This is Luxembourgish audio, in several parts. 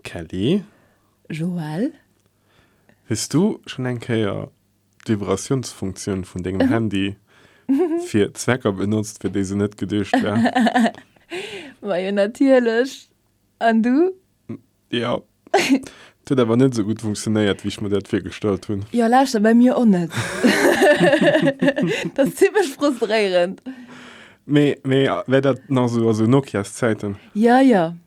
Kelly. Joelle. Hues du schonn eng Kéier d'Vibratiounsfunktioun vun dengem Handy fir Zwecker benotzt, fir déi se net geduecht war? Majo, natierlech. An du? Jo. Et huet awer net esou gutt funktionéiert, wéi ech mer dat virgestallt hunn. Jo, lauschter, bei mir och net. Dat ass zimmlech frustréierend. Mee, mee wär dat nach esou aus Nokias Zäiten? Jo, jo.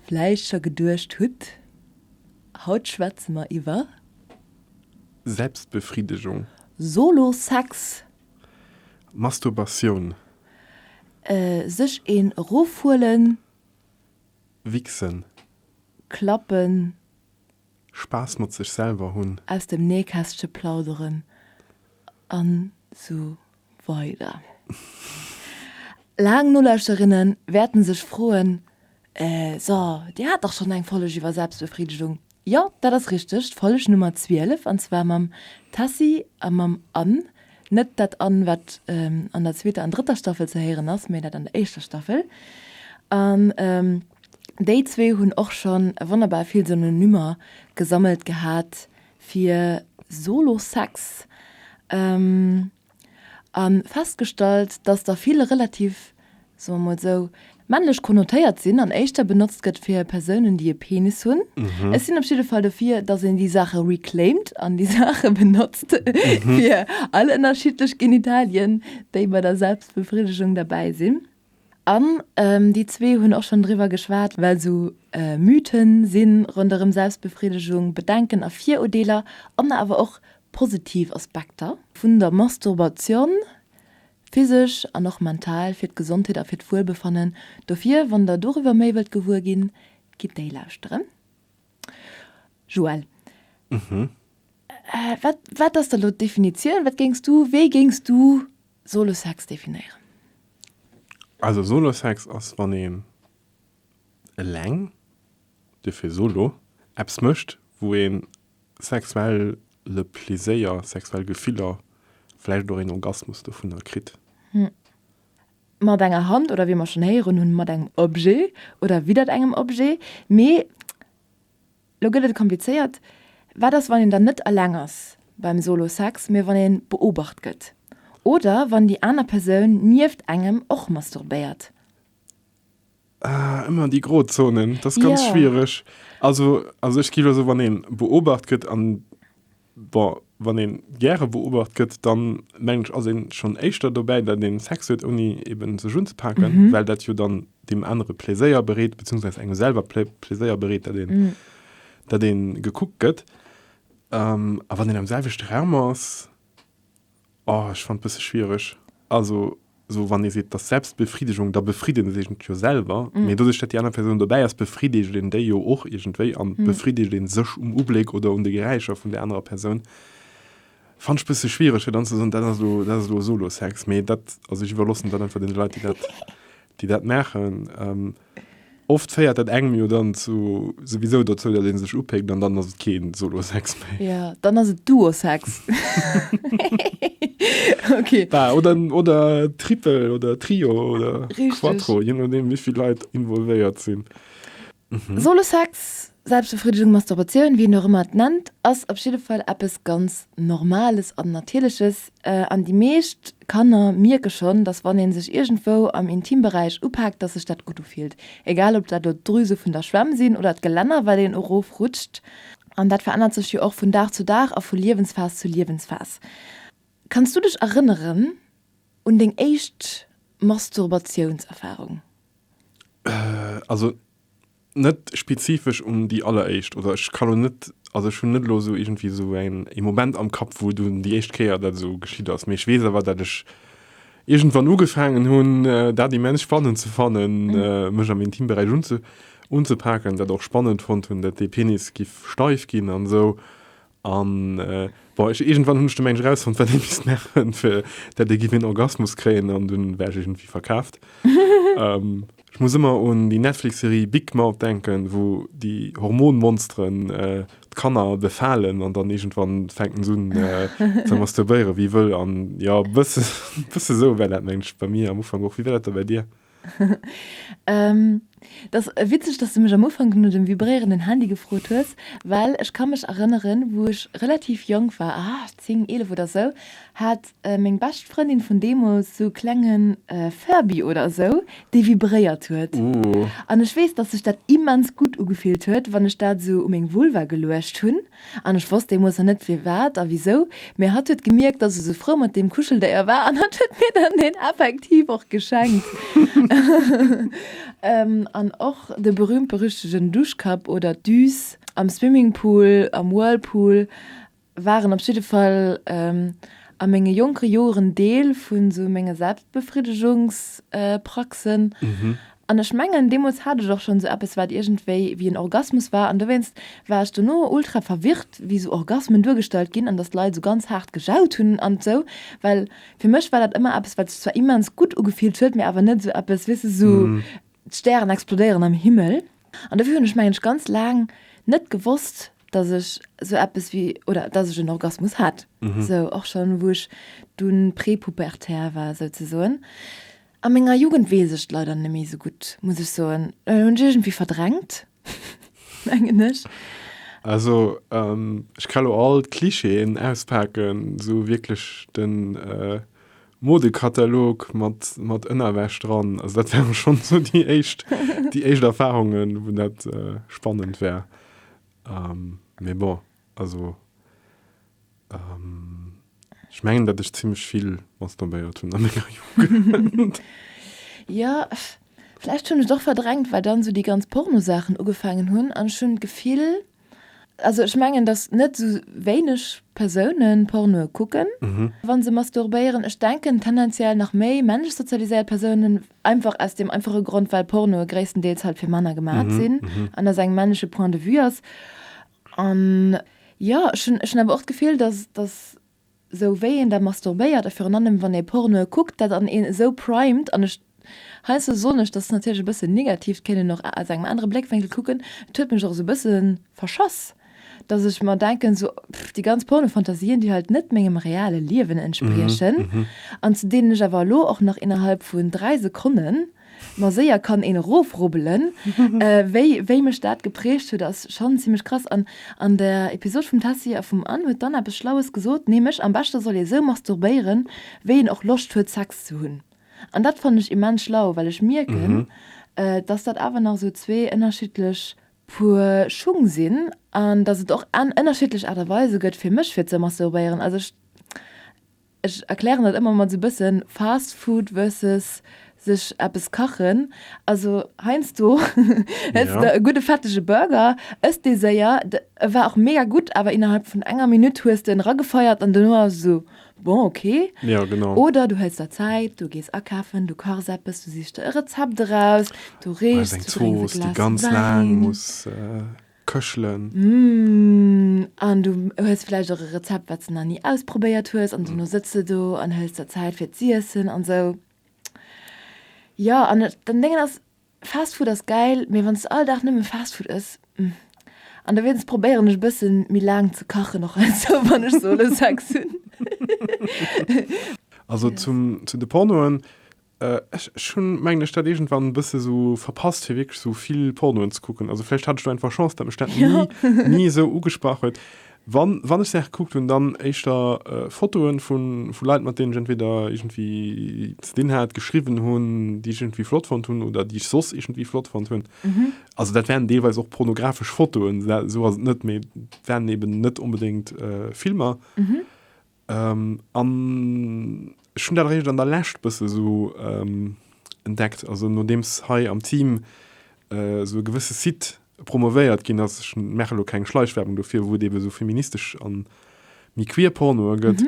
Vläicht scho geduecht hutt, haut schwätze mer iwwer. Selbstbefridegung. Solo-Sex. Masturbatioun. Sech een erofhuelen. Wichsen. Klappen. Spaass mat sech selwer hunn. Aus dem Nähkästche plauderen an sou weider Laang Nolauschterinnen wäerten sech froen, Äh, so, Dir hat dach schonn eng Folleg iwwer Selbstbefridegung? Jo, dat ass richteg, d'Folleg Nummer 12, an zwar mam Tessy a mam Anne, Net dat an, wat an der zweeter an drëtter Staffel ze héieren ass, mä dat an der éischter Staffel. An déi zwee hunn och schonn wonnerbar vill Synonymer gesammelt gehat fir Solo-Sex a festgestallt, dass der vill relativ soe mer emol esou, männlech konnotéiert sinn an éischter benotzt gëtt fir Persounen, déi e Penis hunn. Ech sinn op jidde Fall dofir, datt een déi Saache reclaimed an déi Saache benotzt fir all ënnerschiddlech Genitalien, déi bei der Selbstbefriddegung derbäi sinn. An déi zwee hunn och schonn driwwer geschwat, well esou Mythe si ronderëm Selbstbefriddegung, Bedenken a Virudeeler an awer och positiv Aspekter vun der Masturbation Physesch an och mental fir d'Gesondheet a fir d'Wuelbefannen. Dofir, wann der doriwwer méi wëllt gewuer ginn, gitt déi lauschteren. Joël, wat, wat ass da elo d'Definitioun? Wat géings du, wéi géings du Solo-Sex definéieren? Also Solo-Sex ass, wann een eleng, dofir Solo, eppes mécht, wou ee sexuell Le Pleséier, sexuell Gefiller, vläicht och een Orgasmus dovunner kritt. Hm. Mat enger Hand oder, wéi mer schonn héieren hunn, mat engem Objet oder widdert engem Objet. Mee lo gëtt et komplizéiert. Wat ass, wann een dann net eleng ass beim Solo-Sex, mee wann ee beobacht gëtt? Oder wann déi aner Persoun nieft engem och masturbéiert? Ah, immer die Grozonen, das ist ganz yeah. schwierig. Also, also ich gebe so, wann den beobacht gëtt an bon, wann den gerne beobacht gëtt, dann meng ich also schon echter dabei, der den Sex wird Uni eben so schon zu packen, mm -hmm. weil dat jo dann dem andere Pläéier berät bzw engem selber Pläéier berät, der den, mm. der den gekuckt gëtt. Ähm, a wann den am selwechte Raum ass, Oh, ech fannt bësse schwiereg. Also, sou wann ee seet, dass Selbstbefriedigung, da befrieden ee sech net jo selwer. Mee doduerch, dat déi aner Persoun dobäi ass, befriedegt een déi jo och iergendwéi an befriedegt een sech um Ubléck oder un de Geräischer vun där anerer Persoun. Fannt ech bësse schwiereg, fir dann ze soen, dat ass elo, dat ass elo Solo-Sex. Mee dat, also ech iwwerloossen dat einfach deene Leit, déi dat, déi dat maachen. Oft féiert dat engem jo dann zu souwisou dozou, datt ee sech upéckt an dann ass et kee Solo-Sex méi. Jo, dann ass et Duo-Sex. Ok. Bah, oder, oder Triple oder Trio oder Richteg. Quattro, jee nodeem wéi vill Leit involvéiert sinn. Solo-Sex, Selbstbefriedigung, Masturbation, wéi een och ëmmer et nennt, ass op jidde Fall eppes ganz Normales an Natierleches. An déi meescht Kanner mierke schonn, dass wann ee sech iergendwou am Intimberäich upaakt, dass sech dat gutt ufillt. Egal ob dat elo d'Drüse vun der Schwämm sinn oder d'Gelänner, wat een erofrutscht. An dat verännert sech jo och vun Dag zu Dag a vu Liewensphas zu Liewensphas. Kanns du dech erënneren un deng éischt Masturbatiounserfarung? Also Net spezifesch un déi alleréischt, oder ech kann elo net, also ech hunn net elo esou iergendwéi esou eng, ee Moment am Kapp, wou dunn déi éischt Kéier dat esou geschitt ass, mee ech weess awer, datt ech iergendwann ugefaangen hunn, dat immens spannend ze fannen, mech am Intimberäich unzepaken, dat och spannend fonnt hunn, datt dee Penis giff steif ginn an esou. An bon, ech irgendwann hunn ech de Mensch rausfonnt, wat ee misst maachen, fir dat ee giff een Orgasmus kréien, an dunn war ech irgendwie verkaaft. ähm, Ech muss ëmmer un déi Netflix-Serie Big Mouth denken, wou déi Hormonmonsteren äh, d'Kanner befalen an dann irgendwann fänken s'un äh, ze masturbéiere wéi wëll. An ja, bësse, bësse sou war dat, mengen ech, bei mir am Ufank och. Wéi war dat da bei dir? Et ass witzeg, dass du mech am Ufank no dem vibréierenden Handy gefrot hues, well ech ka mech erënneren, wou ech relativ jonk war, ah, zéng, eelef oder esou, hat meng bescht Frëndin vun deemools esou e klenge Furby oder esou, dee vibréiert huet. An ech weess, dass sech dat immens gutt ugefillt huet, wann ech dat esou u meng Vulva geluecht hunn. An ech wosst deemols nach net firwat a wisou, mee hatt huet gemierkt, dass ech sou frou mat deem Kuscheldéier war an hatt huet mir dann deen effektiv och geschenkt. An och de berühmt-berüchtegen Duschkapp oder d'Düs am Swimmingpool, am Whirlpool, waren op jidde Fall a menge jonke Joren Deel vu sou menge Selbstbefriddegungspraxen. An ech mengen, deemools hat ech och schonn esou eppes, wat iergendwéi wéi en Orgasmus war. An dowéinst war ech dono ultra verwirrt, wéi esou Orgasmen duergestallt ginn an datt d'Leit esou ganz haart gejaut hunn an esou. Well fir mech war dat ëmmer eppes, wat sech zwar immens gutt ugefillt huet, mee awer net esou eppes, weess de, esou d'Stären explodéieren am Himmel. An dofir hunn ech, mengen ech, ganz laang net gewosst, datt ech esou eppes wéi, oder datt ech en Orgasmus hat, esou och schonn, wou ech dunn prepubertär war, souzesoen. A menger Jugend weess ech et leider net méi esou gutt, muss ech soen. Et hunn ech iergendwéi verdrängt, mengen ech. Also, ech ka lo all d'Clichéen auspaken, esou wierklech de Modekatalog mat Ënnerwäsch dran. Also dat wäre schonn esou déi éischt, déi éischt Erfarungen, wou dat spannend wär. Mee bon. Also, ech mengen, datt ech zimlech vill masturbéiert hunn a menger Jugend. Jo, vläicht hunn ech et och verdrängt, well dann esou déi ganz Pornosaachen ugefaangen hunn an ech hunn d'Gefill, also ech mengen, datt net esou wéineg Persoune Pornoe kucken, wa se masturbéieren. Ech denken, tendenziell nach méi männlech sozialiséiert Persounen, einfach aus deem einfache Grond, well Pornoe gréisstendeels halt fir Männer gemaach sinn an datt et eng männleche Point de vue ass. An jo, ech hunn, ech hunn awer och d'Gefill, dass, dass esou wéi een da masturbéiert a virun allem wann ee Pornoe kuckt, dat an een esou primed, an ech, heiansdo soen ech, dass natierlech e bësse negativ, kéint een och aus engem anere Bléckwénkel kucken, et huet mech och esou e bësse verschass, dass ech mer denken, esou déi ganz Pornofantasien, déi halt net mengem reale Liewen entspriechen an zu deenen ech awer elo och nach innerhalb vun dräi Sekonnen. Ma séier kann een erofrubbelen. Wéi, wéi mech dat geprägt huet, ass schonn zimmlech krass. An an der Episod vum Tessy a vum Anne huet d'Anne eppes Schlaues gesot, nämlech, am beschte soll ee sou masturbéieren, wéi een och Loscht huet, Sex ze hunn. An dat fannen ech immens schlau, well ech mierken, dass dat awer nach esou zwee ënnerschiddlech Puer Schung sinn an dass et och ënnerschiddlech Aart a Weise gëtt, fir mech fir ze masturbéieren. Also ech, Ech erklären dat ëmmer mat sou bëssen Fast Food versus sech eppes kachen. Also heiansdo hëls de e gudde fettege Burger, ëss dee séier, e war och mega gutt, awer innerhalb vun enger Minutt hues de en eragefeiert an dono ass esou bon, ok. Oder du hëls der Zäit, du gees akafen, du kachs eppes, du sichs der e Rezept eraus, du reechs, du drénks e Glas Wäin. këchelen. Mmh, an du hues vläicht och e Rezept, wat s de nach ni ausprobéiert hues, an duerno sëtz de do an hëls der Zäit fir z'iessen an esou. Jo, an den Déngen ass, Fast Food ass gäil, mee wann s de all Dag nëmme Fast Food ëss, mmh. An dowéinst probéieren ech e bësse méi laang ze kachen, och esou wann ech solo Sex hunn. Also zum, zu de Pornoen. Ech hun mengen ech dat iergendwann en bësse sou verpasst fir wierklech sou vill Pornoen ze kucken. Also vläicht hat ech do einfach Chance dat mech dat ni esou ugesprach huet. Wann wann ech Saache gekuckt hun dann éischter Fotoen vu vu Leit mat deenen ech entweder iergendwéi ze dinn hat, geschriwwen hun, déi ech iergendwéi flott fonnt hun oder déi ech soss iergendwéi flott fonnt hun. Also dat waren deelweis och pornografesch Fotoen, sou ass et net, mee waren eben net onbedéngt Filmer. An ech hunn dat eréischt an der Lescht bësse sou entdeckt, also nodeems hei am Team sou e gewësse Site promovéiert ginn ass, ech maachen elo keng Schleichwerbung dofir, wou et eebe sou feministesch a méi queer Pornoe gëtt,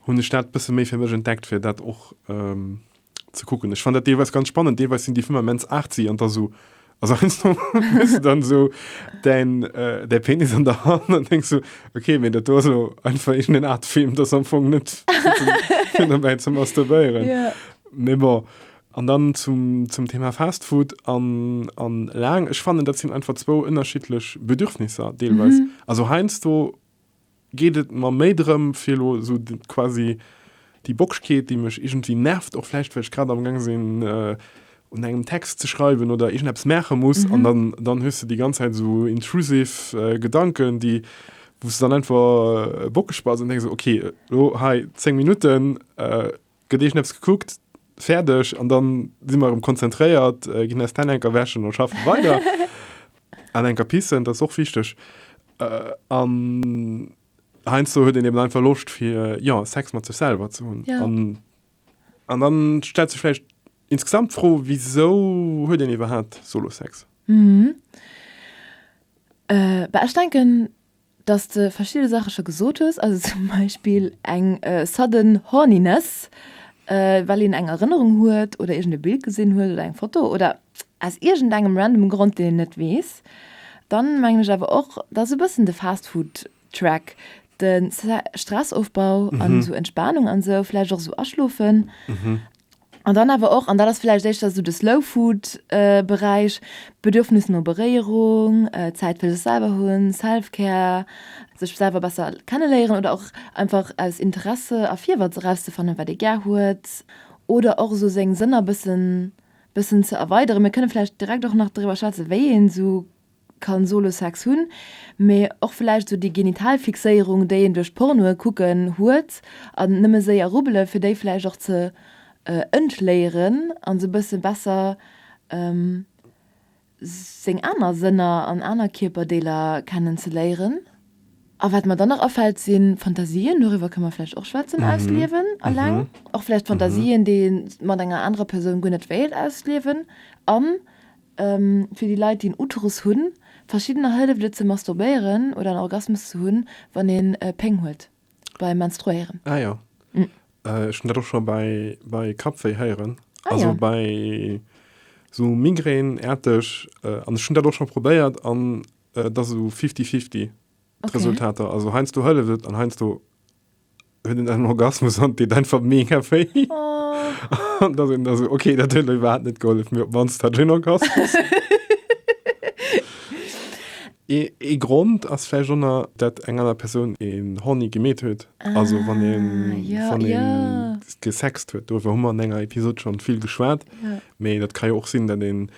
hunn ech dat bësse méi fir mech entdeckt, fir dat och. ze kucken. Ech fand dat deelweis ganz spannend. Deelweis sinn déi Filmer immens artsy an da so also eins no hues du dann so dein äh, dein Penis an der Hand an denkst so okay, mir dat do ass elo einfach irgendeine Art Film, das am Fong net fir dobäi ze masturbéieren. Ja. Mee bon. An dann zum, zum Thema Fastfood an, an laang. Ech fannen, dat sinn einfach zwou ënnerschiddlech Bedürfnisser deelweis. Also heiansdo geet et mer méi drëm fir elo esou quasi déi Bockschkeet, déi mech iergendwéi nervt, och vläicht well ech grad am Gang sinn un engem Text ze schreiwen oder iergendeppes maache muss an dann dann hues de déi ganz Zäit esou intrusiv Gedanken, déi wou s de dann einfach bockeg bass an denke so, okay, elo hei 10 Minutten. Gëtt eeschen eppes gekuckt, fäerdeg an dann si mer erëm konzentréiert, ginn eis d'Hänn eng Kéier wäschen a schaffen weider. An eng Kéier pissen, dat ass och wichteg. An heiansdo huet een eben einfach Loscht fir, jo, Sex mat sech selwer ze hunn. Ja. An, an dann stellt sech vläicht insgesamt d'Fro, wisou huet een iwwerhaapt Solo-Sex? Bah, ech denken, dass de verschidde Saache scho gesot hues, also zum Beispill eng sudden horniness, well een eng Erënnerung huet oder iergend e Bild gesinn huet oder eng Foto oder aus iergendengem random Grond, deen een net weess. Dann mengen ech awer och, dass e bëssen de Fast Food Track, de Stressofbau an esou Entspanung an esou, vläicht och esou Aschlofen, An dann awer och, an dat ass vläicht éischter esou de Slow Food Beräich, d'Bedürfnis no Beréierung, Zäit fir sech selwer hunn, Self Care, sech selwer besser kenne léieren oder och einfach aus Interesse a Virwëtz erauszefannen, wat ee gär huet oder och esou seng Sënner bëssen ze erweideren. Mir kënne vläicht direkt och nach driwwer schwätzen, wéi een esou kann solo Sex hunn, mee och vläicht esou déi genital Fixéierung déi een duerch Pornoe kucken huet an nëmme séier rubbele fir déi vläicht och ze entléieren an esou bësse besser seng aner Sënner an aner Kierperdeeler kennen ze léieren. A wat mer dann nach afält si Fantasien, doriwwer kënne mer vläicht och schwätzen, ausliewen eleng, och vläicht Fantasien déi ee mat enger anerer Persoun guer net wéilt ausliewen an. Fir déi Leit déi en Uterus hunn, verschiddener hëlleft et ze masturbéieren oder en Orgasmus ze hunn wann een Péng huet beim Menstruéieren. Ah jo, ech hunn dat och scho bei bei Kappwéi héieren, also bei sou Migrän aarteg, an ech hunn dat och scho probéiert an et ass esou fifty fifty d'Resultater, also heiansdo hëlleft et an heiansdo huet en en Orgasmus an deet einfach mega wéi. Oh. An da sinn also okay, dat huet iwwerhaupt net gehollef, mir op mannst hat en Orgasmus. Ee, ee Grond ass vläicht och nach, dat eng aner Persoun een Horni gemeet huet. Ah, also wann een, ja, wann een ja. gesext huet. Doriwwer hu mer an enger Episod schonn vill geschwat. Ja. Mee dat ka jo och sinn, dat een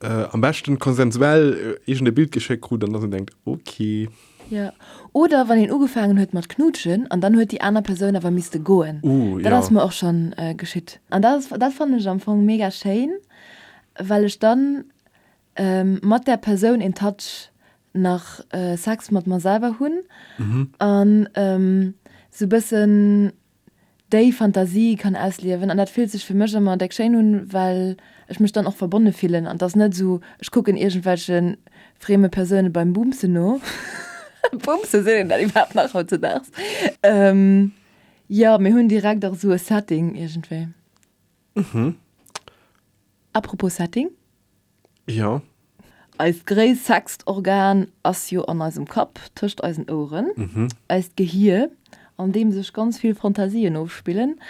äh, am beschten konsensuell äh, iergend e Bild geschéckt krut an dass een denkt, okay. Jo. Oder wann een ugefaangen huet mat knutschen an dann huet déi aner Persoun awer misste goen. Ooh, jo. Dat ass mer och schonn geschitt. An dat ass, dat fannen ech am Fong mega schéin, well ech dann mat där Persoun in touch nach Sex mat mer selwer hunn an sou bëssen déi Fantasie kann ausliewen an dat fillt sech fir mech ëmmer déck schéin un, well ech mech dann och verbonne fillen an 't ass net esou ech kucken iergendwelche freme Persoune beim Boomsen no, Boomsen, seet een dat iwwerhaapt nach hautzedaags? Jo, mir hunn direkt och esou e Setting iergendwéi. Mhm. Apropos Setting. Jo. Eist gréissext Organ ass jo an eisem Kapp, tëscht eisen Oueren. Mhm. Eist Gehir, an deem sech ganz vill Fantasien ofspillen.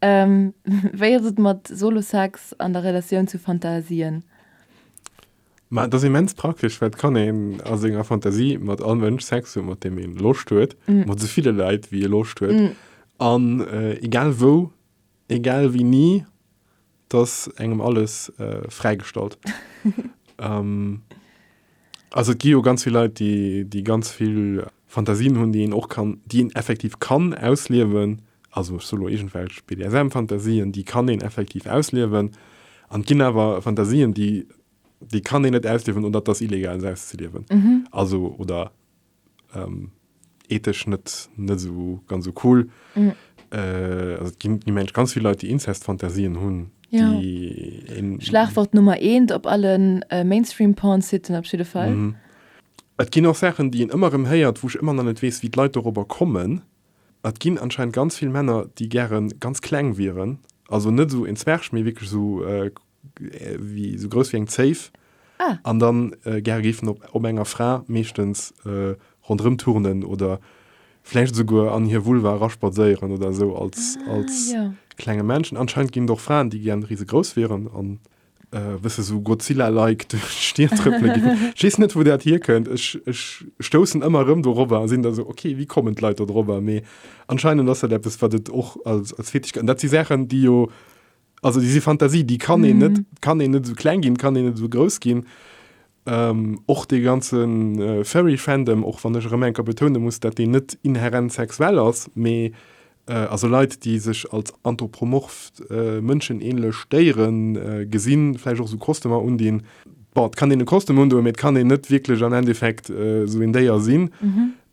Wéi ass et mat Solo-Sex an der Relatioun zu Fantasien? Ma et ass immens praktesch, well et kann een a senger Fantasie mat all Mënsch Sex hunn, mat deem ee Loscht huet, mat esou ville Leit, wéi ee Loscht huet, an egal wou. Egal wéi ni, 't ass engem alles fräigestallt. Also et gi jo ganz vill Leit, déi déi ganz vill Fantasien hunn, déi een och kann, déi een effektiv kann ausliewen. Also ech sou elo iergendwelch BDSM-Fantasien, déi kann een effektiv ausliewen. An 't ginn awer Fantasien, déi déi kann een net ausliewen oder 't ass illegal se auszeliewen. Also oder ähm, ethesch net net so ganz so cool mm. äh, also, die, die Mensch ganz viele Leute die Inzestfantasien hun ja. Schlagwort Nummer 1 op allen äh, Mainstream Porn sitten op jeden Fall. Mm. Et ginn och Sachen, die en ëmmer em héiert, woch ëmmer an net wees, wie d'Leit darüber kommen. Et ginn anscheinend ganz vill Männer, die gären ganz kleng wieren, also net so en Zwerg méi wkeg so äh, wéi sou grouss wéi eng Zéif ah. an dann äh, gär géifen op, op enger Fra meeschtens äh, rondrëm turnen oder vläicht souguer an hir Vulva raspadséieren oder sou als, ah, als ja. klenge Menschen. Anscheinend ginn doch Fraen, déi gern riese grouss wären an äh, wësse so Godzilla-like duerch Stier trëppele ginn. Schiess net, wou dat hier kënnt. Ech, ech stoussen ëmmer rëm dorobber a sinn da so, okay, wie kommen d'Leit da drobber? Mee anscheinend ass dat eppes, wat et och als, als Fetisch gëtt. Dat si Sachen, déi jo Also déi si Fantasie, déi kann een net kann een net esou kleng ginn, kann een net esou grouss ginn. Ähm, och dee ganzen äh, Furry-Fandom, och wann ech erëm enker betoune muss, dat deen net inherent sexuell ass, mee äh, also Leit, déi sech als anthropomorph äh, mënschenähnlech Déieren äh, gesinn, vläicht och esou Kostümer undinn. Bon, et kann een e Kostüm undoen, mee et kann een net wierklech am Endeffekt äh, esou een Déier sinn.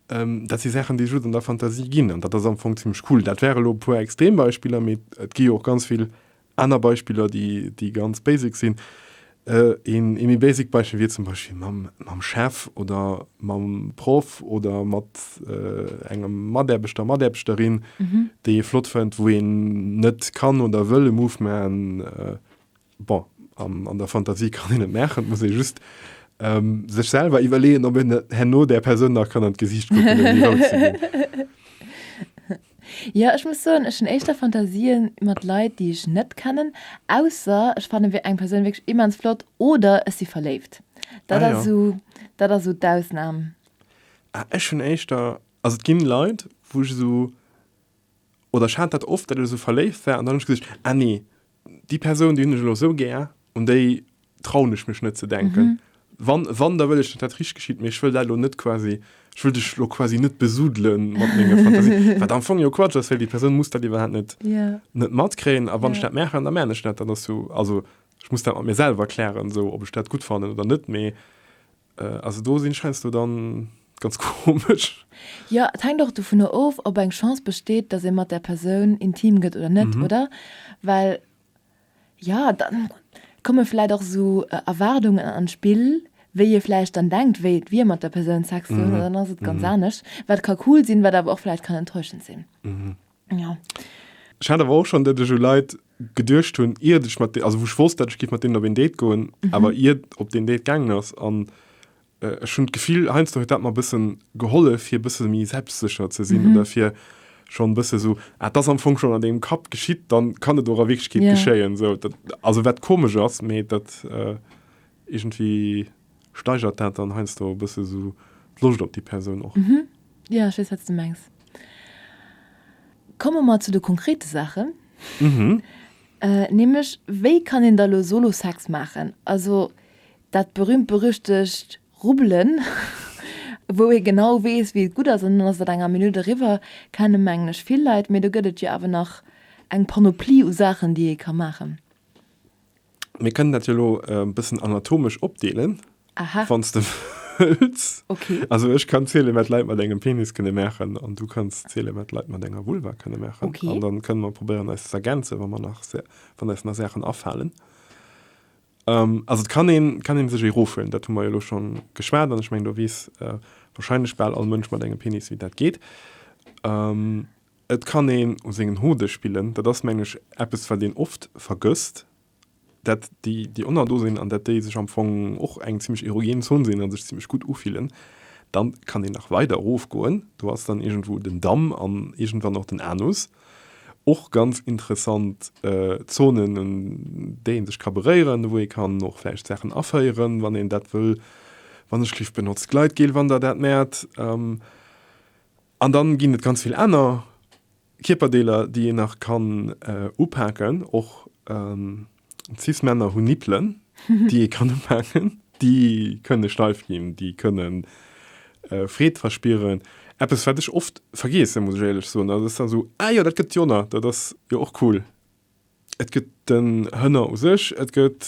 Dat si Saachen, déi just an der Fantasie ginn, an dat ass am Fong zimmlech cool. Dat waren elo e puer Extrembeispiller, mee et gi jo och ganz vill aner Beispiller, déi ganz basic sinn. Een méi basic Beispill wier zum Beispill mam Chef oder mam Proff oder mat engem Mataarbechter, Mataarbechterin, déi ee flott fënnt, wou een net kann oder wëll e Move maachen, Bon, an, an der Fantasie kann een et maachen, et muss ee just ähm, sech selwer iwwerleeën, ob een herno där Persoun nach kann an d'Gesiicht kucken, ouni rou ze ginn. Jo, ech muss soen, ech hunn éischter Fantasien mat Leit, déi ech net kennen, ausser ech fannen eng Persoun wierklech immens flott oder ech si verléift. Dat Ah, ass ja. esou, dat ass esou d'Ausnam. Ah, ech hunn éischter, also et ginn Leit, wou ech esou, oder ech hat dat oft, dat ech esou verléift war an dann ech gesicht, ah nee, Déi Persoun, déi hunn ech elo esou gär, un déi trauen ech mech net ze denken. Wann, wann, da wëll ech, datt dat richteg geschitt, mee ech wëll dat elo net quasi, ech wëll dech elo quasi net besudele mat menge Fantasien, wat am Fong jo Quatsch ass, well déi Persoun muss dat iwwerhaapt net, net matkréien. A wann ech dat maachen, da maachen ech dat. Dat ass esou, also ech muss dat mat mir selwer klären, esou, ob ech dat gutt fannen oder net. Mee Äh, also do sinn scheinsto dann ganz komesch. Jo, et hänkt och dovunner of, ob eng Chance besteet, dass ee mat där Persoun intim gëtt oder net, oder? Well, jo, da komme vläicht och esou Erwaardungen an d'Spill, wéi ee vläicht dann denkt, wéi et wier, mat der Persoun Sex ze hunn, an dann ass et ganz anescht, wat ka cool sinn, wat awer och vläicht kann enttäuschend sinn. Ja. Ech hat awer och schon dat ech u Leit geduercht hunn iert ech mat also woch wosst dat ech giff mat deenen op een Date goen mhm. awer iert op den Date gaangen ass an äh, ech hunn d'Gefill heinz huet dat mat bëssen geholle fir bësse mi selbstsecher ze sinn mhm. oder fir schon bësse so ah, das am Fong schon an dem Kap geschitt dann kann et oder wegkeet yeah. geschéien so dat, also wat komesch ass méi dat äh, irgendwie Steigert dat dann heiansdo e bësse sou d'Loscht op déi Persoun och? Mhm, jo, ech weess, wat s du mengs. Komme mer zu de konkrete Saachen. Mhm. Nämlech, wéi kann een da elo Solo-Sex maachen? Also dat berüümt-berüchtegt Rubbelen, wou ee genau weess, wéi et gutt ass, an dann ass dat enger Minutt eriwwer, kenne mengen ech vill Leit. Mee do gëtt et jo awer nach eng Panoplie u Saachen, déi ee ka maachen. Mir kënnen dat jo lo e äh, bëssen anatomesch opdeelen. Aha. Wanns de wëlls. Okay. Also ech kann zielen, wat Leit mat engem Penis kënne maachen an du kanns zielen, wat Leit mat enger Vulva kënne maachen. Okay. An dann kënne mer probéieren eis z'ergänzen, wa mer nach se wann eis nach Saachen afalen. Ähm, also et kann een kann een sech ee roofhuelen, dat hu mer jo lo schon geschwat an ech mengen do weess äh, wahrscheinlech bal all Mënsch mat engem Penis wéi dat geet. Ähm, Et kann een u sengen Hode spillen, dat ass meng ech eppes wat een oft vergësst, dat déi déi ënner do sinn an dat déi sech am Fong och eng zimmlech erogen Zon sinn a sech zimmlech gutt ufillen. Dann kann een nach weider erofgoen, do ass dann iergendwou den Damm an iergendwann och den Anus, och ganz interessant Zonen un déi een sech ka beréieren, wou ee kann och vläicht Saachen aféieren wann een dat wëll. Wann ech lift, benotzt Gleitgel wann der dat mäert. An dann ginn et ganz vill aner Kierperdeeler déi een nach kann upaken. Och cis Männer hunn Nippelen déi ee kann upaken. Déi kënne steif ginn, déi kënne Freed verspieren. Eppes wat ech oft vergeesse muss ech éierlech soen, ass, Ah jo, dat gëtt jo nach, dat ass jo och cool. Et gëtt den Hënner u sech, et gëtt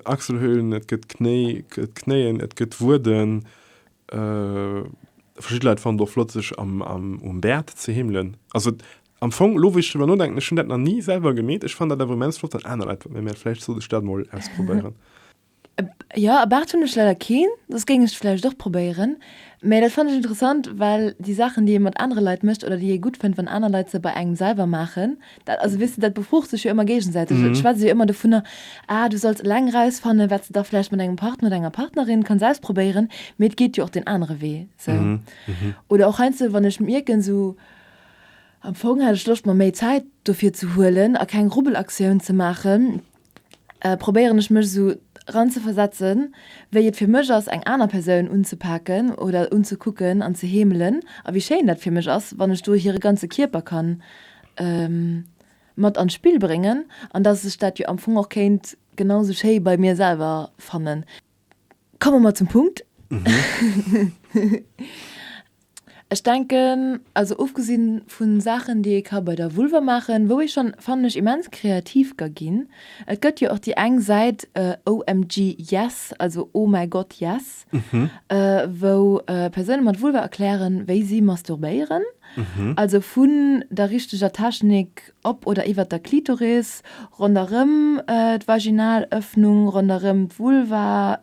Achselhöhlen, et gëtt Knéi, et gëtt Knéien, et gëtt Wueden. Verschidde Leit fannen et och flott, sech um Bäert ze heemelen. Also am Fong, elo wou ech driwwer nodenken, ech hunn dat nach ni selwer gemeet, ech fannen dat awer immens flott, wann aner Leit dat méi maachen. Vläicht sollt ech dat mol ausprobéieren. Jo, e Baart hunn ech leider keen, soss géing ech et vläicht och probéieren. Mä dat fannen ech interessant, well déi Saachen, déi ee mat anere Leit mécht oder déi ee gutt fënnt, wann aner Leit se bei engem selwer maachen, dat, also weess de, dat befrucht sech jo ëmmer géigesäiteg. Et schwätzt ee jo ëmmer dovunner, ah, du solls eleng erausfannen, wat s de da vläicht mat engem Partner oder enger Partnerin kanns auspro-béieren. Mee et geet jo och deen anere Wee sou. Oder och heiansdo, wann ech mierken, sou, am Fong hätt ech Loscht mer méi Zäit dofir ze huelen a keng Rubbelaktioun ze maachen, probéieren ech mech esou ran ze versetzen wéi et fir mech ass eng aner Persoun unzepaken oder unzekucken an ze heemelen a wéi schéin dat fir mech ass wann ech do hire ganze Kierper kann mat an d'Spill bréngen an dass ech dat jo am Fong och kéint genau esou schéi bei mir selwer fannen. Komme mer zum Punkt. Ech denken, also ofgesinn vu Saachen, déi ee ka bei der Vulva maachen, wou ee schonn, fannen ech, immens kreativ ka ginn. Et gëtt jo och déi eng Säit OMG yes, also Oh mäi Gott, yes, wou Persoune mat Vulva erklären, wéi si masturbéieren, also vun der richteger Technik op oder iwwert der Klitoris, ronderëm d'Vaginalëffnung, ronderëm d'Vulva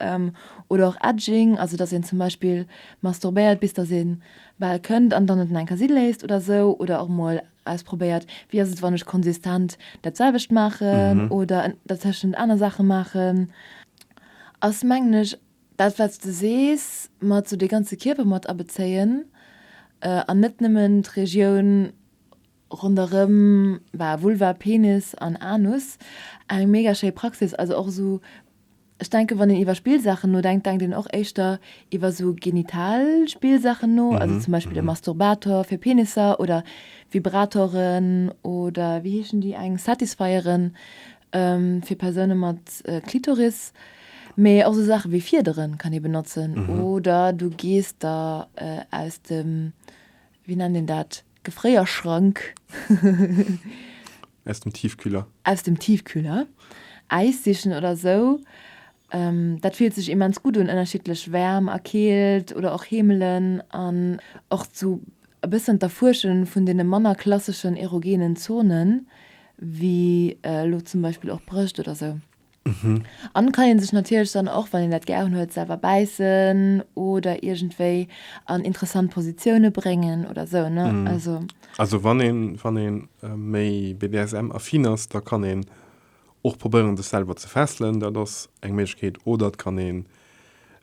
oder och Edging, also dass een zum Beispill, Masturbéiert bis dass een bal kënnt an dann et enker si léisst oder sou oder och mol ausprobéiert wéi ass et wann ech konsistent dat selwecht maachen oder dertëschent aner Saache maachen ass mengen ech dat wats de sees mat sou de ganze Kierper mat abezéien an net nëmmen d'Regioun Ronderëm bah Vulva, Penis an Anus. Eng mega schéi Praxis. Also och esou, ech denke wann een iwwer Spillsaachen nodenkt, denkt een och éischter iwwer esou genital Spillsaachen no, also zum Beispill e Masturbator fir Penisser oder Vibratoren oder wéi heeschen déi eng Satisfieren fir Persoune mat Klitoris. Mee och esou Saache wéi Fiederen kann ee benotzen oder du gees der aus dem, wéi nennt een dat, Gefréierschrank. Aus dem Tiefkühler. Aus dem Tiefkühler. Äis sichen oder sou. Dat fillt sech immens gutt un, ënnerschiddlech Wäerm a Keelt oder och Heemelen an och zu e bëssen d'Erfuersche vun deene manner klasseschen erogenen Zonen, wéi elo zum Beispill och Brëscht oder sou. An kann een sech natierlech dann och, wann een dat gären huet, selwer bäissen oder iergendwéi an interessant Positioune bréngen oder sou, ne? Also. Also wann een, wann een méi BDSM-affin ass, da kann een och probéieren sech selwer ze fesselen, dat ass eng Méiglechkeet. Oder et kann een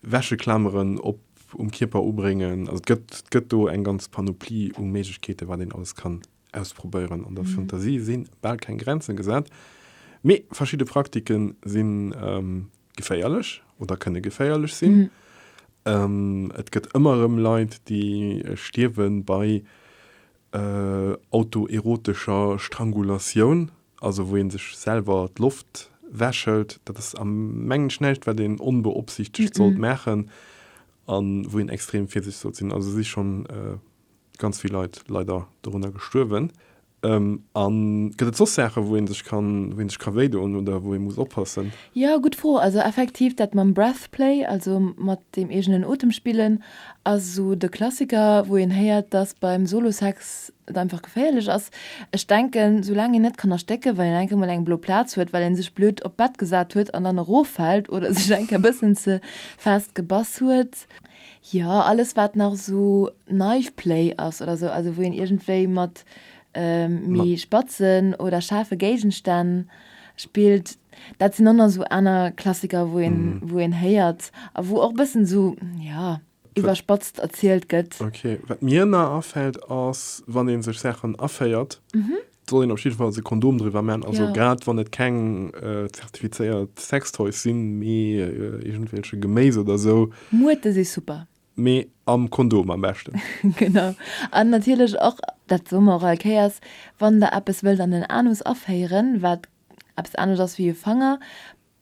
Wäscheklameren op, um Kierper ubréngen. Also et gëtt, et gëtt do eng ganz Panoplie u Méiglechkeete wat een alles kann Ausprobéieren an der Fantasie si bal keng Grenze gesat, mee verschidde Praktike si geféierlech oder kënne geféierlech sinn. Et gëtt ëmmer erëm Leit, déi stierwe bei autoerotescher Strangulatioun, also wou ee sech selwer d'Loft wechhëlt. Dat ass, mengen ech, näischt, wat een onbeopsiichtegt sollt maachen a wou een extrem virsichteg sollt sinn. Also si schonn ganz vill Leit leider dorunner gestuerwen. Um, an gëtt et soss Saachen, wou een sech kann, wou een sech ka wéi doen oder wou ee muss oppassen? Jo, gutt Fro. Also effektiv dat mam Breath Play, also mat dem eegenen Otem spillen, ass esou de Klassiker, wou een héiert, dass beim Solo Sex et einfach geféierlech ass. Ech denken, sou laang een net kann erstécken, well een eng Kéier mol eng blo Plaz huet, well een sech blöd op d'Bett gesat huet an dann eroffält oder sech eng Kéier e bëssen ze fest gebass huet, Jo, alles wat nach esou Knife Play ass oder esou, also wou een iergendwéi mat méi spatzen oder schaarfe Géigenstänn spillt, dat sinn dann esou aner Klassiker wou een, wou een héiert a wou och e bëssen esou, jo, iwwerspatzt erzielt gëtt. Ok, wat mir nach afält ass, wann ee sech Saachen aféiert, Et soll een op jiddefalls e Kondom driwwer man, also ja. grad wann et keng äh, zertifizéiert Sextoys sinn, mee äh, irgendwelche Geméis oder so. Muerte si super. Mee am Kondom am beschten. genau. An natierlech och, dat soe mer och all Kéiers, wann der eppes wëllt an den Anus aféieren, wat eppes anescht ass wéi e Fanger,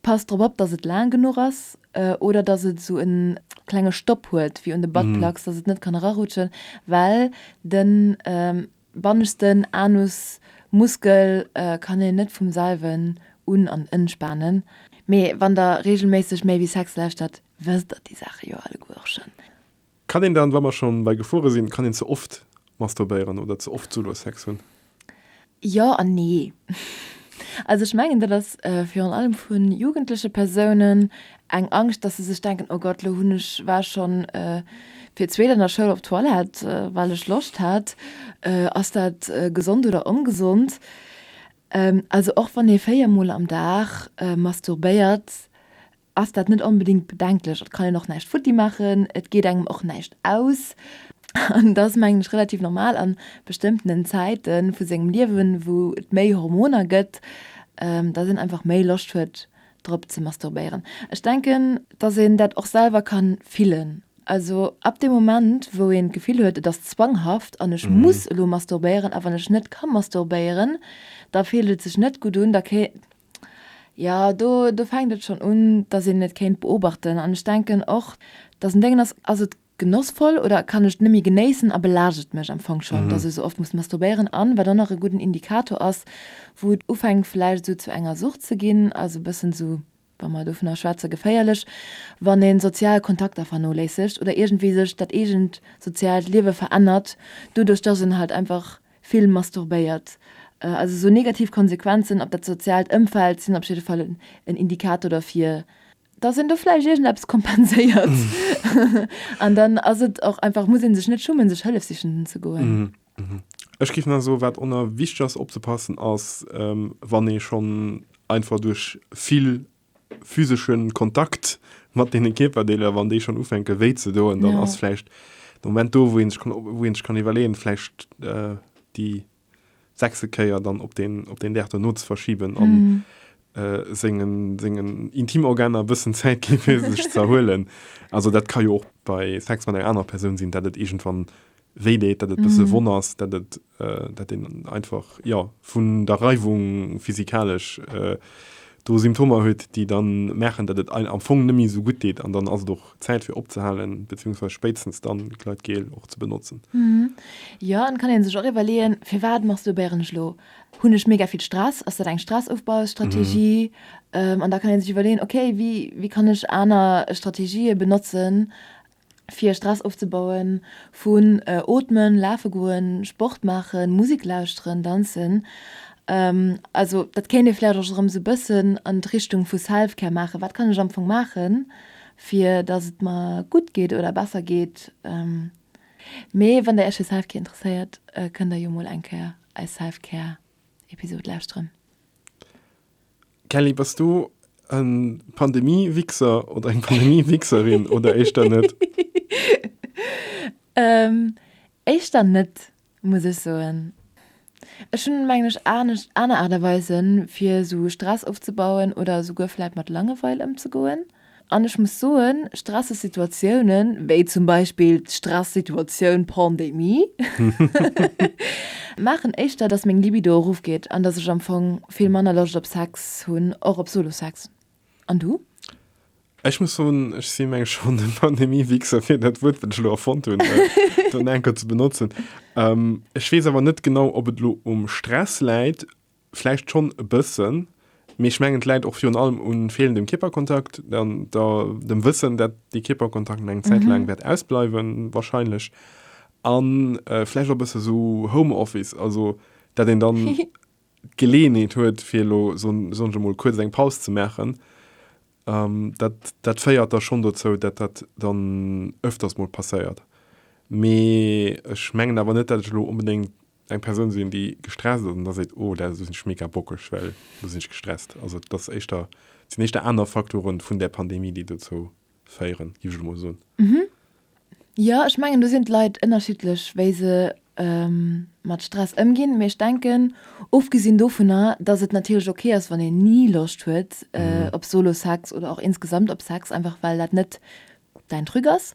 Passt drop op dass et laang genuch ass oder dass et sou en klenge Stopp huet wéi un de Buttplugs dass et net kann erarutschen well den bannegsten Anus Muskel kann een net vum selwen un an enspanen. Mee wann der regelméisseg méi wéi Sex lauschtert wësst der déi Saache jo alleguer schon. Kann een dann, wa mer schonn bei Gefuere sinn, kann een ze oft masturbéieren oder ze oft Solo-Sex hunn? Jo an nee. Also ech mengen dat ass virun allem vu jugendleche Persounen eng Angscht, dass se sech denken, oh Gott, lo hunn ech, war schonn fir d'zweet an der Schoul op d'Toilette, well ech Loscht hat. Ass dat gesond oder ongesond? Also och wann ee véier Mol am Dag masturbéiert, ass dat net onbedéngt bedenklech. Et kann een och näischt futti maachen, et geet engem och näischt aus. An et ass, mengen ech, relativ normal a bestëmmtenen Zäite vu sengem Liewen, wou et méi Hormoner gëtt, datt een einfach méi Loscht huet drop ze masturbéieren. Ech denken, datt een dat och selwer ka fillen. Also ab deem Moment, wou een d'Gefill huet, et ass zwanghaft an ech muss elo masturbéieren a wann ech net ka masturbéieren, da fillt et sech net gutt un, da Jo, do, do fänkt et schonn un, dass een et kéint beobachten. An ech denken och, dass en denken ass, Ass et genossvoll oder kann ech et net méi genéissen a belaascht et mech am Fong schonn, dass ech esou oft muss masturbéieren? An wat och nach e gudden Indikator ass, wou et ufänkt vläicht esou zu enger Sucht ze ginn, ass e bëssen esou, wa mer dovunner schwätze geféierlech, wann ee sozial Kontakter vernoléissegt oder iergendwéi sech dat eegent soziaalt Liewe verännert, doduerch dass en halt einfach vill masturbéiert. Also sou negativ Konsequenzen op dat soziaalt Ëmfeld sinn op jidde Fall en Indikator derfir, dass een do vläicht iergendeppes kompenséiert. An dann ass et och einfach, muss ee sech net schummen, sech Hëllef sichen ze goen. Ech géif nach soen, wat och nach wichteg ass opzepassen, ass wann ee schonn einfach duerch vill physesche Kontakt mat deene Kierperdeeler, wann déi schonn ufänke wéi ze doen, dann ass vläicht de Moment do, wou ee sech kann, wou ee sech kann iwwerleeën, vläicht déi sechste Kéier dann op deen, op deen Dag dono ze verschiben a sengen, sengen Intimorganer e bëssen Zäit ginn, fir sech ze erhuelen. Also dat ka jo och bei Sex mat enger anerer Persoun sinn, dat et iergendwann Wéi deet dat et bësse Wonn ass, dat et, dat een einfach, jo, vun der Reiwung physikalesch do Symptomer huet, déi da maachen, dat et einem am Fong net méi esou gutt deet. An dann ass et och Zäit fir opzehalen, beziehungsweis spéitstens dann Gleitgel och ze benotzen. Jo, an et kann ee sech och iwwerleeën, firwat masturbéieren ech elo? Hunn ech mega vill Stress? Ass dat eng Stressofbaustrategie? An da kann ee sech iwwerleeën, okay, wéi kann ech aner Strategië benotzen, fir Stress ofzebauen, vun Ootmen, Lafe goen, Sport maachen, Musik lauschteren, danzen. Also dat kéint ee vläicht och erëm sou e bëssen an d'Richtung vu Self-Care maachen. Wat kann ech am Fong maachen, fir datt et mer gutt geet oder besser geet? Mee wann Der Iech fir Self-Care interesséiert, kënnt Der jo mol eng Kéier eis Self-Care-Episod lauschteren. Kelly, bass du en Pandemie-Wixer oder eng Pandemie-Wixerin oder éischter net? Éischter net, muss ech soen. Ech hunn, mengen ech, anescht, aner Aart a Weisen, fir esou Stress ofzebauen oder esouguer vläit mat Langeweil ëmzegoen. An ech muss soen, stresseg Situatiounen, wéi zum Beispill d'Stressituatioun Pandemie, maachen éischter, dass meng Libido erofgeet an dass ech am Fong vill manner Loscht op Sex hunn, och op Solo-Sex. An du? Ech muss soen, ech si menge schonn e Pandemie-Wichser, fir dat Wuert, wat ech elo erfonnt hunn, dann eng Kéier ze benotzen. Ech weess awer net genau, ob et elo um Stress läit. Vläicht schonn e bëssen, mee ech mengen et läit och virun allem u feelendem Kierperkontakt an der dem Wëssen, dat dee Kierperkontakt nach eng Zäit laang wäert ausbleiwen, warscheinlech. A vläicht och e bësse sou Home Office, also dat een dann d'Geleeënheet huet fir elo, soen ech emol, kuerz eng Paus ze maachen. Dat, dat féiert da schonn dozou, dat dat dann ëfters mol passéiert. Mee ech mengen awer net, dat ech elo onbedéngt eng Persoun sinn déi gestresst ass an da seet oh dat sinn ech mega bockeg well do sinn ech gestresst. Also et ass éischter et sinn éischter aner Faktoren vun där Pandemie déi dozou féieren géif ech emol soen. Mhm jo ech mengen do sinn d'Leit ënnerschiddlech wéi se mat Stress ëmginn, mee ech denken ofgesinn dovunner datt et natierlech ok ass wann een ni Loscht huet op Solo-Sex oder och insgesamt op Sex einfach well dat net däin Truc ass,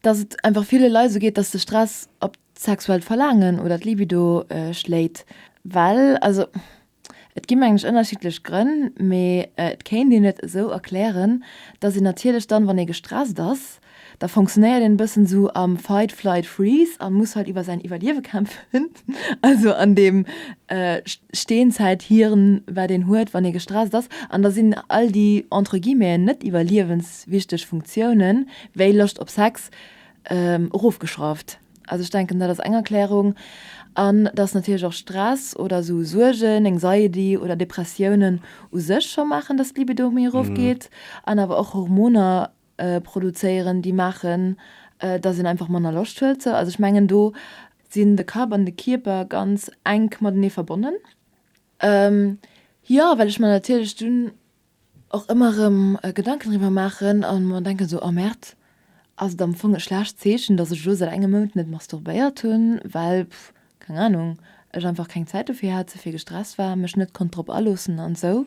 datt et einfach ville Leit esou geet datt de Stress op D'sexuellt Verlaangen oder d'Libido schléit well. Also et gi mengen ech ënnerschiddlech Grënn, mee et kéint een et esou erklären, dass een natierlech dann, wann ee gestresst ass, da funktionéiert een e bëssen esou am Fight, Flight, Freeze a muss halt iwwer säin Iwwerliewe kämpfen, also an deem Steenzäithirn, wat een huet, wann ee gestresst ass. An da sinn all déi entre guillemeten net iwwerliewenswichteg Funktiounen, wéi Loscht op Sex, erofgeschrauft. Also ech denken dat ass eng Erklärung. An dass natierlech och Stress oder esou Suergen, Anxiety oder Depressiounen u sech scho maachen, dass d'Libido méi erofgeet an awer och Hormoner produzéieren, déi maachen, dass een einfach manner Loscht huet. Sou also ech mengen do sinn de Kapp an de Kierper ganz enk matenee verbonnen. Jo, well ech mer natierlech dunn och ëmmer erëm Gedanken driwwer maachen a mer denken esou, oh Merd, ass et am Fong e schlecht Zeechen, datt ech elo säit engem Mount net masturbéiert hunn, well, keng Anung, ech einfach keng Zäit dofir hat, ze vill gestresst war, mech net konnt drop aloossen an esou.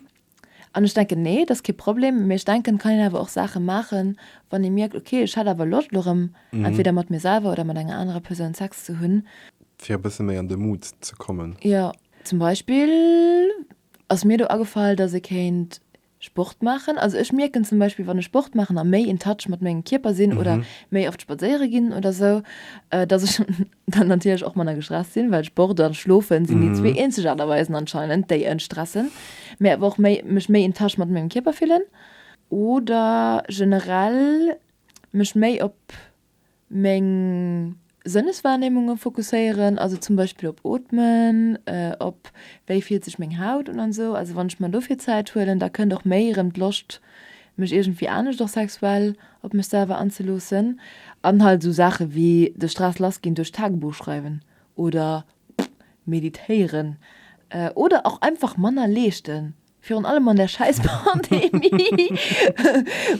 An ech denken, nee, et ass kee Problem, mee ech denken, et kann een awer och Saache maachen, wann ee mierkt, okay, ech hätt awer Loscht elo erëm entweder mat mir selwer oder mat enger anerer Persoun Sex ze hunn. Fir e bësse méi an de Mood ze kommen. Jo, zum Beispill Ass mir do agefall dass ee kéint Sport maachen. Also ech mierken zum Beispill wann ech Sport maachen a méi in touch mat mengem Kierper sinn oder méi oft spadséiere ginn oder sou, dass ech dann natierlech och manner gestresst sinn, well Sport a schlofen sinn déi zwee eenzeg Aart a Weisen anscheinend déi en stressen, mä awer och méi mech méi in touch mat mengem Kierper fillen oder generell mech méi op. meng Sënneswahrnehmungen fokusséieren, also zum Beispill op Ootmen, op wéi fillt sech meng Haut un an esou. Also wann ech mer dofir Zäit huelen, da kënnt och méi erëm d'Loscht mech iergendwéi anescht och sexuell op mech selwer anzeloossen. An halt esou Saache wéi de Stress lass ginn duerch Tagebuch schreiwen oder meditéieren oder och einfach manner leeschten. virun allem an der schäiss Pandemie,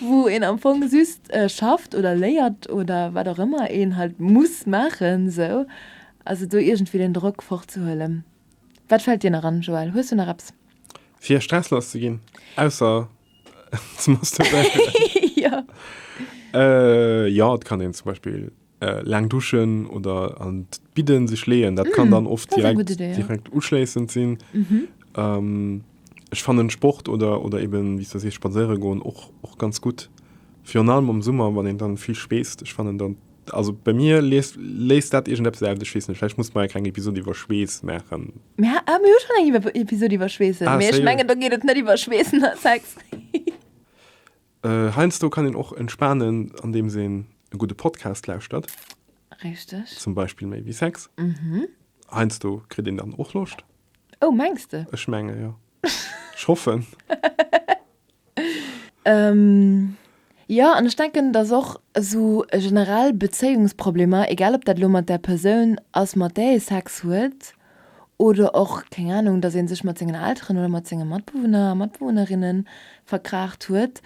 wou een am Fong just schafft oder léiert oder wat och ëmmer een halt muss maachen esou, also do iergendwéi den Drock fortzehuelen. Wat fält dir nach an, Joël, hues du nach eppes? Fir stresslass ze ginn, ausser ze masturbéieren? Jo, et kann een zum Beispill Laang duschen oder an d'Bidden sech leeën, dat kann dann oft direkt direkt uschléissend sinn. Ech fannen Sport oder oder eben wéi s de sees spadséiere goen och och ganz gutt. Virun allem am Summer, wann een dann vill schweesst. Ech fannen dann, also bei mir lees léist dat iergendeppes aus. Ech weess net, vläicht muss mer eng kleng Episod iwwer Schweess maachen. Mir ha, mir hu schonn eng Episod iwwer Schweessen, mee ech mengen do geet et net iwwer Schweessen a Sex. Heiansdo kann een och entspanen andeems een e gudde Podcast lauschtert. Richteg. Zum Beispill méi wéi Sex. Heiansdo kritt een dann och Loscht. Oh, mengs de? Ech menge jo. Ech hoffen. Jo, an ech denken, datt och esou generell Bezéiungsproblemer, egal ob dat elo mat der Persoun ass mat där ee Sex huet, oder och, keng Ahnung, dass ee sech mat sengen Elteren oder mat senge Matbewunner a Matbewunnerinne verkraacht huet,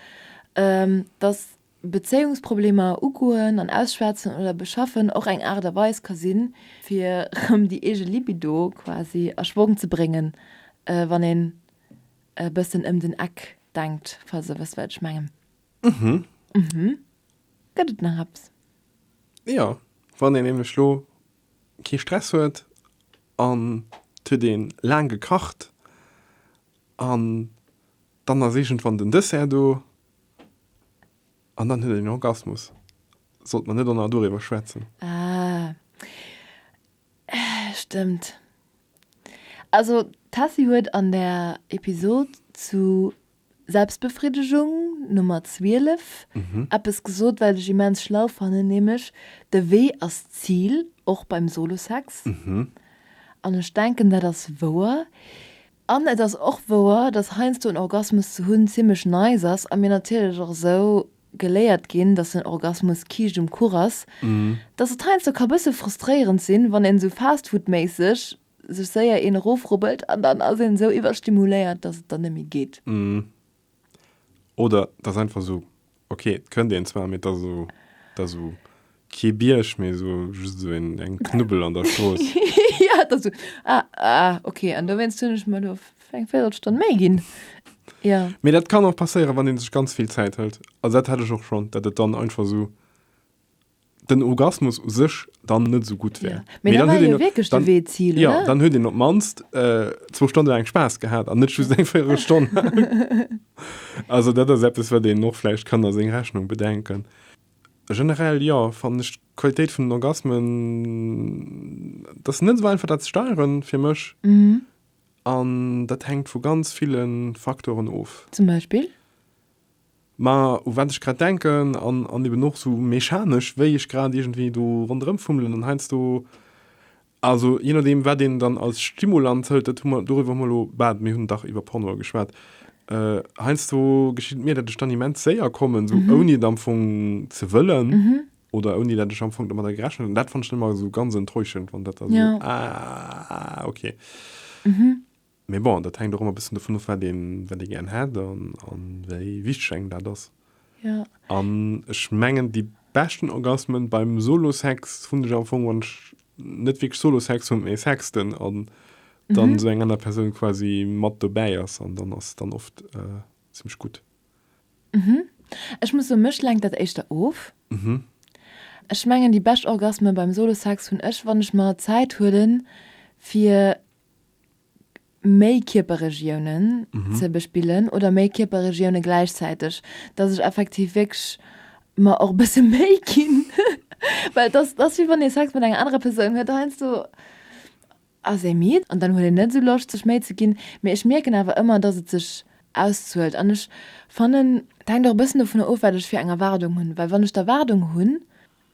dass Bezéiungsproblemer ugoen an ausschwätzen oder beschaffen och eng Aart a Weis ka sinn, fir rëm déi eege Libido quasi a Schwong ze bréngen, wann een e bëssen ëm den Eck denkt, falls Der wësst, wat ech mengen. Mhm. Mhm. Gëtt et nach eppes? Jo, wann een nämlech elo kee Stress huet an et huet ee laang gekacht an dann ass iergendwann den Dessert do an dann huet een en Orgasmus. Sollte mer net och nach doriwwer schwätzen? Ah, stëmmt. Also d'Tessy huet an der Episode zu Selbstbefriddegung Nummer 12, eppes gesot wat ech immens schlau fannen, nämlech de Wee ass d'Zil, och beim Solosex. An ech denken dat ass wouer. An et ass och wouer, dass heiansdo en Orgasmus ze hunn zimmlech nice ass a mir natierlech och esou geléiert ginn, dass en Orgasmus Kiischt um Kuch ass, dass et heiansdo ka bësse frustréierend sinn, wann een esou fastfoodméisseg sech séier een erofrubbelt an dann ass een esou iwwerstimuléiert, dass et dann net méi geet. Mmh. Oder et ass einfach esou, ok, et kënnt een zwar, mee et ass esou, et ass esou kee Bierg, mee esou just esou een, eng Knubbel an der Strooss. Ja, et ass esou, ah, ah, ok. An dowéinst hunn ech mer elo eng Véirelstonn méi ginn. Ja. Mee dat kann och passéieren, wann ee sech ganz vill Zäit hëlt. Also dat hat ech och schonn, datt et dann einfach esou. den Orgasmus u sech dann net esou gutt wär. Ja. Mee dann huet een wierklech de Wee Zil. Ja, oder? dann huet een op mannst äh, zwou Stonne laang Spaass gehat an net just eng véiere Stonn. also dat ass eppes, wat een och vläicht kann a seng Rechnung bedenken. Generell ja, fannen ech d'Qualitéit vun den Orgasmen, dat ass net esou einfach dat ze steieren fir mech. Mhm. An dat hänkt vu ganz ville Faktoren of. Zum Beispill? Mä u wat ech grad denken, an an eben och esou mechanesch, wéi ech grad iergendwéi do ronderëm fummelen an heiansdo, also jee nodeem wat een dann als Stimulant hëlt, dat hu mer, dorüwer hu mer elo, bad, mir hunn dach iwwer Pornoe geschwat, heiansdo geschitt et mir, datt ech dann immens séier kommen, esou ouni et am Fong ze wëllen oder ouni datt ech am Fong domadder gerechent hunn. An dat fannt ech dann ëmmer esou ganz enttäuschend, wann dat da esou, ah, okay. Mee bon, dat hänkt och ëmmer e bëssen dovun of, wat een, wat ee gären hätt an, an wéi wichteg engem dat ass. Jo. An ech mengen, déi beschten Orgasmen beim Solo-Sex hunn ech am Fong, wann ech net wierklech Solo-Sex hunn, mee sexten an dann esou eng aner Persoun quasi mat dobäi ass. An dann ass et dann oft zimmlech gutt. Ech muss soen, mech lenkt dat éischter of. Ech mengen, déi bescht Orgasmen beim Solo-Sex hunn ech, wann ech mer Zäit huelen, fir méi Kierperregiounen ze bespillen oder méi Kierperregioune gläichzäiteg, datt ech effektiv wierklech mer och e bësse Méi ginn, well et ass, et ass wéi wann ee Sex mat enger anerer Persoun huet, heiansdo ass ee midd an dann huet een net esou Loscht sech Méi ze ginn, mee ech mierken awer ëmmer, datt et sech auszuelt an ech fannen, et hänkt och e bëssen dovunner of wat ech fir eng Erwaardung hunn, well wann ech d'Erwaardung hunn,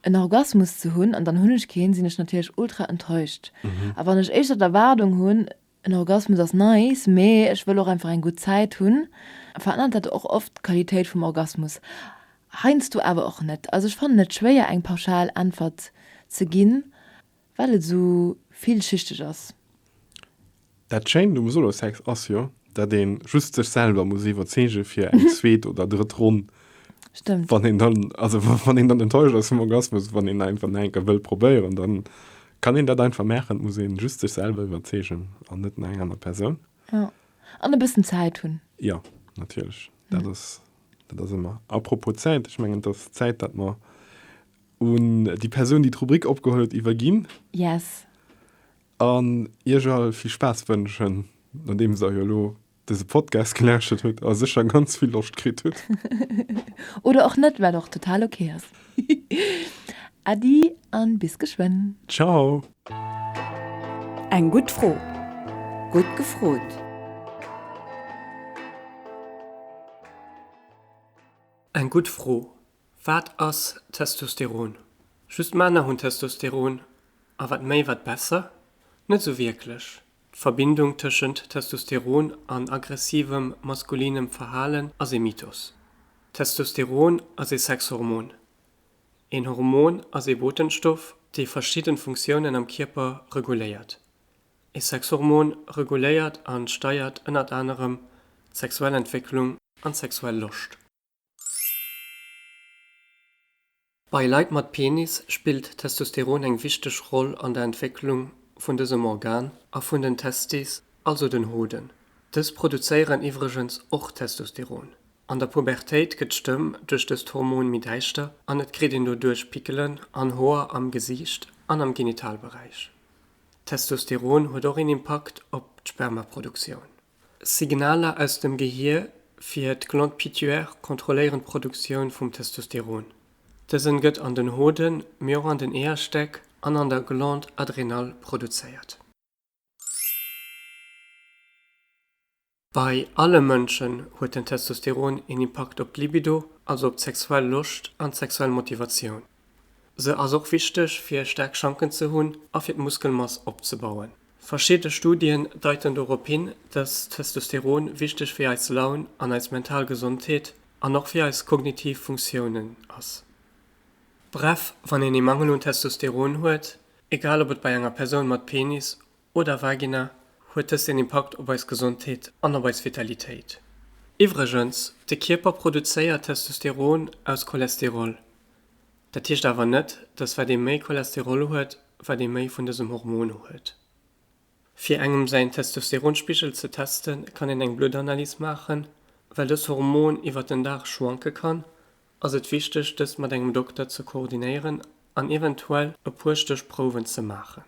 en Orgasmus ze hunn an dann hunn ech keen, sinn ech natierlech ultra enttäuscht. A wann ech éischter d'Erwaardung hunn, en Orgasmus ass nice, mee ech wëll och einfach eng gutt Zäit hunn, verännert dat och oft d'Qualitéit vum Orgasmus. Heiansdo awer och net. Also ech fannen et schwéier eng pauschal Äntwert ze ginn, Well et esou villschichteg ass. Dat schéint um Solosex ass jo, dat een just sech selwer muss iwwerzeegen fir eng zweet oder drëtt Ronn. Stëmmt. Wann een dann, also wann een dann enttäuscht ass vum Orgasmus, wann een einfach nach enker wëll probéieren, dann kann een dat einfach maachen. Et muss een just sech selwer iwwerzeegen an net nach eng aner Persoun. Jo, an e bëssen Zäit hunn. Jo, natierlech, dat ass, dat ass ëmmer. Apropos Zäit, ech mengen et ass Zäit dat mer. un déi Persoun, déi d'Rubrik opgeholl huet, iwwerginn. Yes. An Iech all vill Spaass wënschen, nodeems Der jo elo dëse Podcast gelauschtert hutt a sécher ganz vill Loscht kritt hutt. Oder och net, wat och total ok ass. Äddi a bis geschwënn. Ciao. Eng gutt Fro, gutt gefrot. Eng gutt Fro, Wat ass Testosteron? Just Männer hunn Testosteron a wat méi, wat besser? Net esou wierklech. D'Verbindung tëschent Testosteron an aggressivem maskulinem Verhalen ass ee Mythos. Testosteron ass ee Sexhormon. Een Hormon ass ee Botenstoff, dee verschidden Funktiounen am Kierper reguléiert. Ee Sexhormon reguléiert an steiert ënnert anerem d'sexuell Entwécklung an d'sexuell Loscht. Bei Leit mat Penis spillt Testosteron eng wichteg Roll an der Entwécklung vun dësem Organ a vun den Testes, also den Hoden. Dës produzéieren iwwregens och Testosteron. An der Pubertéit gëtt d'Stëmm duerch dëst Hormon méi däischter an et kritt een doduerch Pickelen an Hoer am Gesiicht an am Genitalberäich. Testosteron huet och een Impakt op d'Spermaproduktioun. Signaler aus dem Gehier fir d'Glande pituaire kontrolléieren d'Produktioun vum Testosteron. Dësen gëtt an den Hoden, mee och an den Eeërstäck an an der Glande adrénale produzéiert. Bei alle Mënschen huet den Testosteron een Impakt op d'Libido, also op d'sexuell Loscht an d'sexuell Motivatioun. Se ass och wichteg fir staark Schanken ze hunn a fir d'Muskelmass opzebauen. Verschidde Studien deiten dorop hin, dass Testosteron wichteg fir eis Laun an eis mental Gesondheet an och fir eis kognitiv Funktiounen ass. Bref, wann een ee Mangel un Testosteron huet, egal ob et bei enger Persoun mat Penis Oder Vagina, huet dëst een Impakt op eis Gesondheet an op eis Vitalitéit. Iwwregens, de Kierper produzéiert Testosteron aus Cholesterol. Dat heescht awer net, dass wat ee méi Cholesterol huet, wat ee méi vun dësem Hormon huet. Fir engem säin Testosteronspigel ze testen, kann een eng Bluttanalyse maachen. Well dëst Hormon iwwert den Dag schwanke kann, ass et wichteg, dëst mat engem Dokter ze koordinéieren an eventuell e puer Stéchprouwen ze maachen.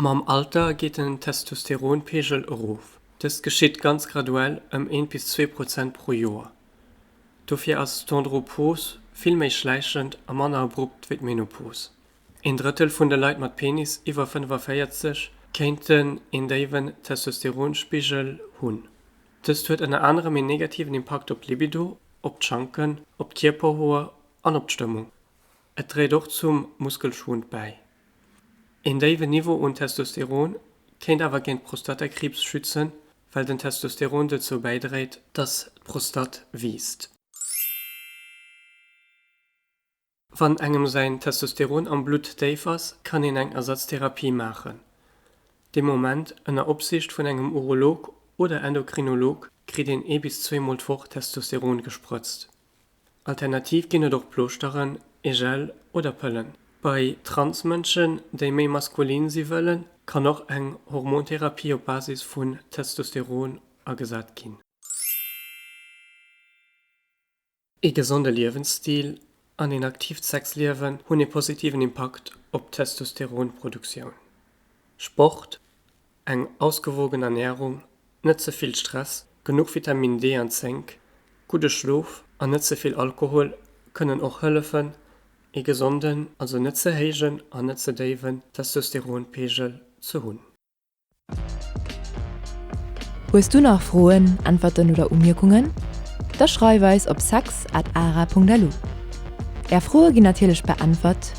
Mam Alter geet den Testosteronpeegel erof. Dëst geschitt ganz graduell, ëm eent bis zwee Prozent pro Joer. Dofir ass d'Andropos vill méi schläichend a manner abrupt wéi d'Menopos. Een Drëttel vun de Leit mat Penis iwwer 45 kéinten een déiwen Testosteronspigel hunn. Dëst huet ënner anerem een negativen Impakt op d'Libido, op d'Schanken, op d'Kierperhoer an op d'Stëmmung. Et dréit och zum Muskelschwund bäi. Een déiwen Niveau un Testosteron kéint awer géint Prostatakriibs schützen, well den Testosteron dozou bäidréit, dass d'Prostat wiisst. Wann engem säin Testosteron am Blutt déif ass, kann een eng Ersatztherapie maachen. Dee Moment, ënner Opsiicht vun engem Urolog oder Endokrinolog, kritt een ee bis zweemol d'Woch Testosteron gesprëtzt. Alternativ ginn et och Plooschteren, ee Gel oder Pëllen. Bei Transmënschen, déi méi maskulin si wëllen, kann och eng Hormontherapie op Basis vun Testosteron agesat ginn. Ee gesonde Liewensstil an een aktiivt Sexliewen hunn ee positiven Impakt op d'Testosteronproduktioun. Sport, Eng ausgewogen Ernärung, net ze vill Stress, genuch Vitaminn D an Zénk, gudde Schlof an net ze vill Alkohol kënnen och hëllefen, ee gesonden, also net ze héijen an net ze déiwen Testosteronpegel ze hunn. Hues du nach Froen, Äntwerten oder Umierkungen? Da schreif eis op sex at ara.lu. Är Froe ginn natierlech beäntwert.